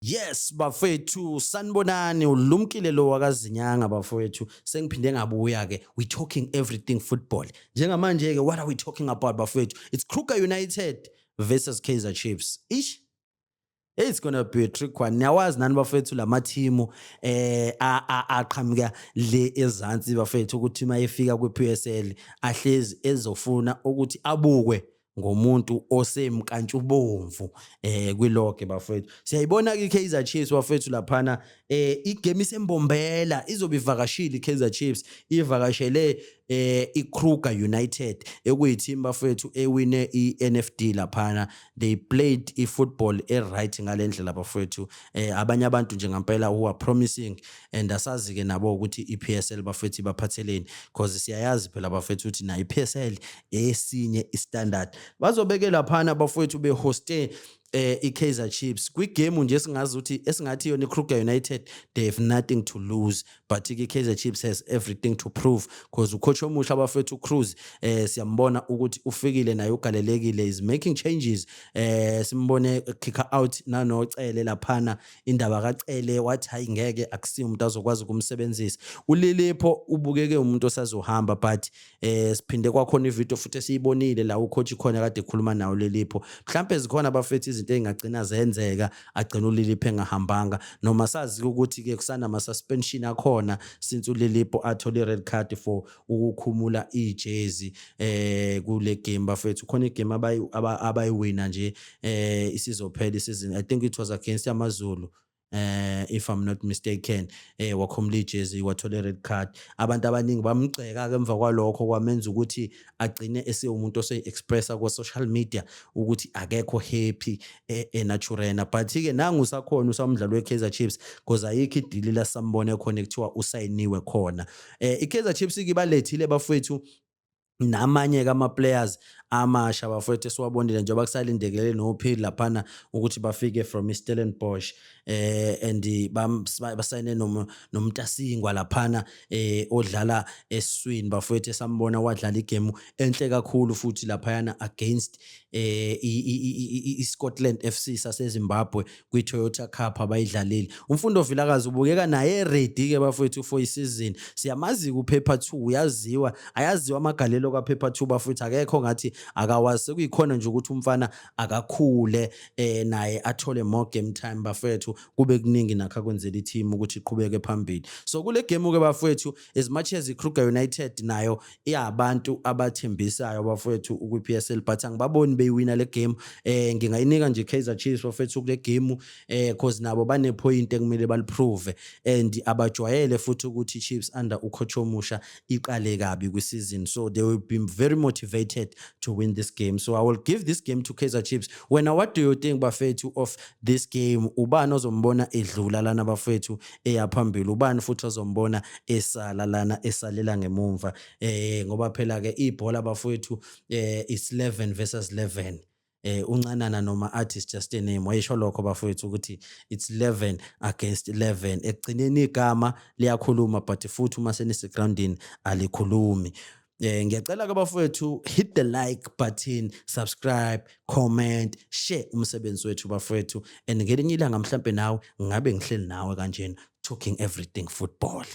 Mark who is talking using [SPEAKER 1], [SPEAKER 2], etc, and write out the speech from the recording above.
[SPEAKER 1] Yes bafethu sanibonani ulumkile lo wakazinyanga bafethu sengiphinde ngabuya ke we talking everything football njengamanje ke what are we talking about bafethu it's Kruger United versus Kaizer Chiefs ish It's gonna be a trick one. Niyawazi nani bafethu lamathimu eh aqhamuka le ezansi bafethu ukuthi uma efika kwiPSL ahlezi ezofuna ukuthi abukwe ngomuntu osemkantshubomvu eh kwiloge bafethu siyayibona ke iKaizer Chiefs bafethu laphana eh igame isembombela izobivakashile iKaizer Chiefs ivakashele eh iKruger United ekuyiteam bafethu ewine iNFD laphana they played ifootball eright ngalendlela bafethu eh abanye abantu nje ngempela who are promising and asazike nabo ukuthi iPSL bafethu ibaphatheleni because siyayazi phela bafethu ukuthi na iPSL esinye istandard bazobeke laphana abafethu behoste eh iKaizer Chiefs kwigame nje singazi ukuthi esingathi yona iKruger United they have nothing to lose but iKaizer Chiefs has everything to prove because ucoach omusha abafethu uCruz eh siyambona ukuthi ufikile naye ugalelekile is making changes eh simbone kick out nanocele laphana indaba kaCele wathi hayi ngeke akusiyo umuntu azokwazi ukumsebenzisa uLilipho ubukeke umuntu osazohamba but eh siphinde kwakhona ivideo futhi esiyibonile la ucoach khona kade ekhuluma nawo Lilipho mhlambe zikhona abafethi izinto ezingagcina zenzeka agcina uLilipho engahambanga noma sazi ukuthi ke kusana ama suspension akhona since uLilipho athole red card for ukukhumula ijezi eh kule game bafethu khona igame abayi abayiwina nje eh isizophela isizini i think it was against amazulu eh if i'm not mistaken eh wakhomula ijezi wathole red card abantu abaningi bamgceka ke emva kwalokho kwamenza ukuthi agcine esewumuntu ose expressa ku social media ukuthi akekho happy eh, e naturena but ke nangu sakhona usamdlalo weKaizer Chiefs because ayikho idili la sambone khona ekuthiwa usayiniwe khona eh iKaizer Chiefs ikibalethile bafowethu namanye kama players amasha bafowethu esiwabonile njengoba kusalindekele nophili laphana ukuthi bafike from iStellenbosch eh and basayine nomntasingwa laphana eh odlala eswini bafowethu esambona wadlala igame enhle kakhulu futhi laphayana against eh iScotland FC saseZimbabwe kwi-Toyota Cup abayidlalile. UMfundo Vilakazi ubukeka naye ready ke bafowethu for isizini. Siyamazi kuphepha 2 uyaziwa, ayaziwa amagalelo kaphepha 2 bafowethu akekho ngathi akawazi sekuyikhona nje ukuthi umfana akakhule eh naye athole more game time bafowethu kube kuningi nakho akwenzela i-team ukuthi iqhubeke phambili. So kule game ke bafowethu as much as iKruger United nayo iyabantu abathembisayo bafowethu ukwiPSL but angibaboni beyiwina le game eh ngingayinika nje Kaizer Chiefs bafowethu kule game eh because nabo bane point ekumele baliprove and abajwayele futhi ukuthi Chiefs under ucoach omusha iqale kabi kwiseason so they will be very motivated to win this game so i will give this game to Kaizer Chiefs wena what do you think bafethu of this game ubani ozombona edlula lana bafethu eya phambili ubani futhi ozombona esala lana esalela ngemumva eh ngoba phela ke ibhola bafowethu eh is 11 versus 11 eh uncanana noma athi is just a name wayesho lokho bafowethu ukuthi it's 11 against 11 ekugcineni igama liyakhuluma but futhi uma senise groundini alikhulumi Eh ngiyacela ke bafowethu hit the like button, subscribe, comment, share umsebenzi wethu bafowethu and ngelinye ilanga mhlambe nawe ngabe ngihleli nawe kanjena talking everything football.